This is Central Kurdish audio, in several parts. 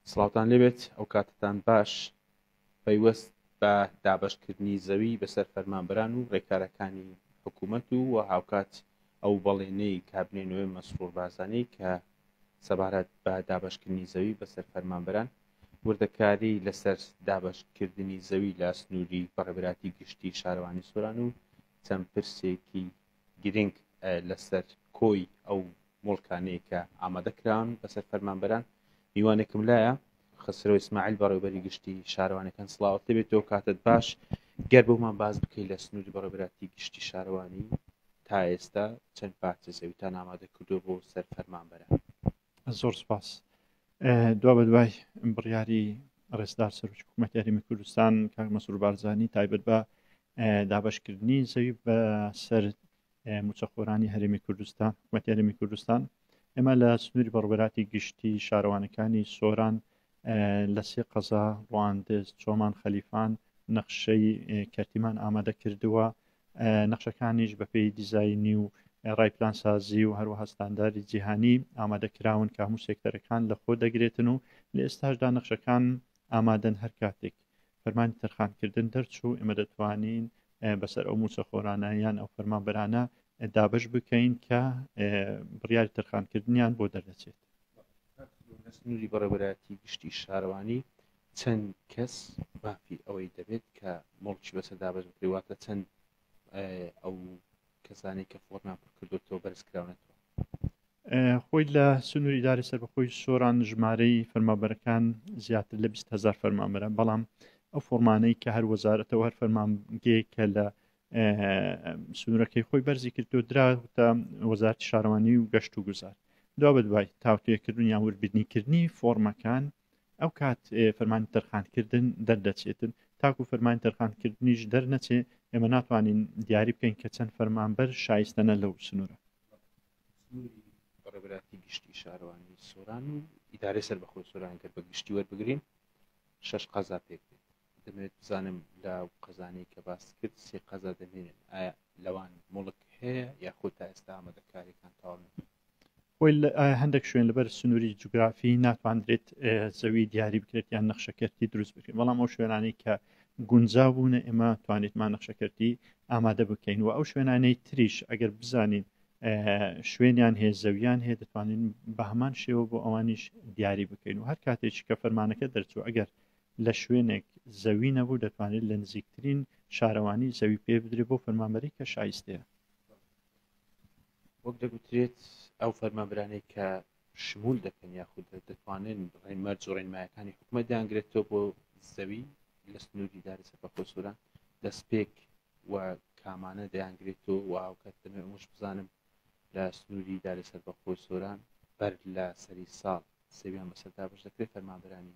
سڵاوتان لێبێت ئەو کاتتان باش پەیوەست بە دابەشکردنی زەوی بەسەر فەرمانبەران و ڕێکارەکانی حکوومەت و و هاوکات ئەو بەڵێنەی کابینەی نوێ مەسرور بارزانی کە سەبارەت بە دابەشکردنی زەوی بەسەر فەرمانبەران وردەکاری لەسەر دابەشکردنی زەوی لە سنووری بەڕێبراتی گشتی شارەوانی سۆران و چەند پرسێکی گرنگ لەسەر کۆی ئەو موڵکانەی کە ئامادە کراون بەسەر فەرمانبەران میوانێکم لایە خسرۆ ئیسماعیل بەڕێوبەری گشتی شارەوانەکان سڵاوت لەبێت تۆ کاتت باش گەر بۆمان باز بکەیت لە سنووری بەڕێبراتی گشتی شارەوانی تا ئێستا چەند پارچە زەویتان ئامادە کردو بۆ سەر فەرمانبەران زۆر سپاس دوا بەدوای بڕیاری ڕێزدار سەرچ حکوومەت یاریمی کوردستان کاک مەسرور بارزانانی تایبەت بە دابشکردنی زەوی بە سەر موچەخۆرانی هەرێمی کوردستان حکوومەت یاریمی کوردستان ئێمە لە سنووری بەڕبراتی گشتی شارەوانەکانی سۆران لە سێ قەزا ڕواندز چۆمان خەلیفان نەخشەی کەرتیمان ئامادە کردووە نەخشەکانیش بەپێی دیزاینی و ڕای پلانسازی و هەروەها ستانداری جیهانی ئامادەکراون کە هەموو سێکتەرەکان لە خۆ دەگرێتن و لە ئێستاشدا نەخشەکان ئامادەن هەر کاتێک فەرمانی تەرخانکردن دەرچوو ئێمە دەتوانین بەسەر ئەو موچەخۆرانە یان ئەو فەرمانبەرانە دابش بکەین کە بڕیاری تەرخانکردنیان بۆ دەردەچێت سنووری بەڕێوەبەرایەتی گشتی شارەوانی چەند کەس مافی ئەوەی دەبێت کە مڵکی بەسەر دابەش بکرێت واتە چەند ئەو کەسانی کە فۆرمان پر کردوەوە بەرز کراونەتەوە خۆی لە سنووری داری سەربەخۆی سۆران ژمارەی فەرمابەرەکان زیاتر لە 20هزار فەرمامەرە بەڵام ئەو فۆرمانەی کە هەر وەزارەتەوە هەر فەرمانگەیە کە لە سنوورەکەی خۆی بەرزی کرد و دراوتە وەزارتی شارەوانی و گەشت و گوزار دو بە دوای تاوتێکردن یا وربدنیکردنی فۆرمەکان ئەو کات فەرمان تەرخانکردن دەردەچێتن تاکو فەرمان تەرخانکردنیش دەرنەچێ ئێمە ناتوانین دیاری بکەین کە چەند فەرمانبەر شایستەنە لەو سنوورە ڕێبراتی گشتی شارەوانی سۆران و ئیدارەی سەر بەخۆی سۆران کرد بە گشتی وەربگرین شش قازا پێک دەمەوێت بزانم لەو قەزانەی کە باست کرد سێ قەزا دەمێنێن ئایا لەوان موڵک هەیە یاخۆ تا ئێستا ئامادەکاریەکان تەواو نەبوون؟ خۆی هەندێک شوێن لەبەر سنووری جوگرافی ناتواندرێت زەوی دیاری بکرێت یان نەخشەکەرتی دروست بکرێت بەڵام ئەو شوێنانی کە گونجا بوونە ئێمە توانیتمان نەخشەکەرتی ئامادە بکەین و ئەو شوێنانەی تریش ئەگەر بزانین شوێنیان هەیە زەویان هەیە دەتوانین بە هەمان شێوە بۆ ئەوانیش دیاری بکەین و هەر کاتێک کە فەرمانەکە دەرچوو ئەگەر لە شوێنێک زەوی نەبوو دەتوانێت لە نزیکترین شارەوانی زەوی پێ بدرێت بۆ فەرمانبەری کە شایستەیە. وەک دەگوترێت ئەو فەرمانبرانەی کە شمول دەکەن یاخود دەتوانن ڕێنمەرج و ڕێنمایەکانی حکومەت دەیانگرێتەوە بۆ زەوی لە سنووری داری سەرپەخۆ سووران دەستپێک و کامانە دەیانگرێتەوە و هاوکات دەمێ ئەمەش بزانم لە سنووری داری سەربەخۆی سۆران بەر لە سەری ساڵ سەویان بەسەردا بەش دەکرێت فەرمانبرانی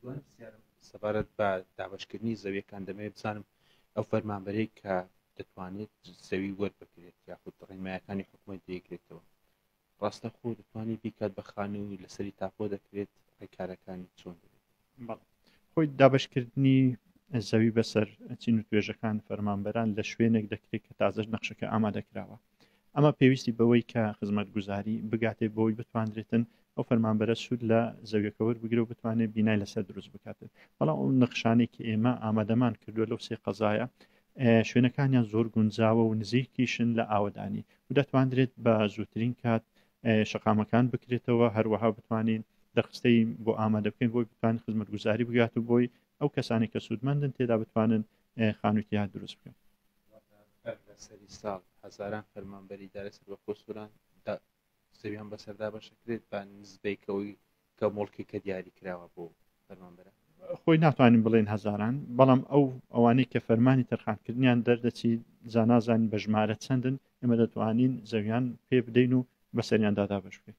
دوای پرسیارم سەبارەت بە دابەشکردنی زەویەکان دەمەوێت بزانم ئەو فەرمانبەرەی کە دەتوانێت زەوی وەربگرێت یاخود ڕێنمایەکانی حکوومەت دەیگرێتەوە ڕاستە خۆ دەتوانانی بیکات بە خانووی لەسەری تاپۆ دەکرێت ڕێکارەکانی چۆن دەبێت خۆی دابشکردنی زەوی بەسەر چین و توێژەکان فەرمانبەران لە شوێنێک دەکرێت کە تازەش نەخشەکە ئامادەکراوە ئەمە پێویستی بەوەی کە خزمەتگوزاری بگاتێ بۆی بتواندرێتن ئەو فەرمانبەرە سوود لە زەویەکە وەربگرە و بتوانێت بینای لەسەر دروست بکاتن بەڵام ئەو نەخشانێکی ئێمە ئامادەمان کردووە لەو سێ قەزایە شوێنەکانیان زۆر گونجاوە و نزیکیشن لە ئاوەدانی و دەتواندرێت بە زووترین کات شقامەکان بکرێتەوە هەروەها بتوانین دەخستەی بۆ ئامادە بکەین بۆی بتوان خزمەتگوزاری بگات و بۆی ئەو کەسانی کە سوودمەندن تێدا بتوانن خانوویکی هات دروست بکەم سەری ساڵ هەزاران فەرمانبەری دارە سەر بە خۆسووران زەویان بەسەردا بەشەکرێت بە نزبەیکەوەی کە مڵکی کە دیاری کراوە بۆ فەرمانبەرە خۆی ناتوانین بڵێن هەزاران بەڵام ئەو ئەوانەی کە فەرمانی تەرخانکردنیان دەردەچی زانازان بە ژمارە چەندن ئێمە دەتوانین زەویان پێ بدەین و بەسەریان دادابش بکەین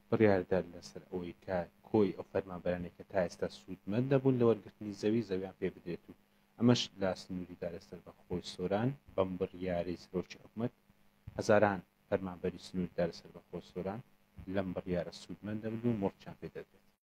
بڕیاردەر لەسەر ئەوەی کە کۆی ئەو فەرمانبەرانەی کە تا ئێستا سوودمەند نەبوون لە وەرگرتنی زەوی، زەویان پێ بدرێت و ئەمەش لە سنووری دارە سەربەخۆی سۆران. بەم بڕیارەی سەرۆکی حکومەت، هەزاران فەرمانبەری سنووری دارە سەربەخۆ سۆران لەم بڕیارە سوودمەند دەبن و مۆرکیان پێ دەدرێت.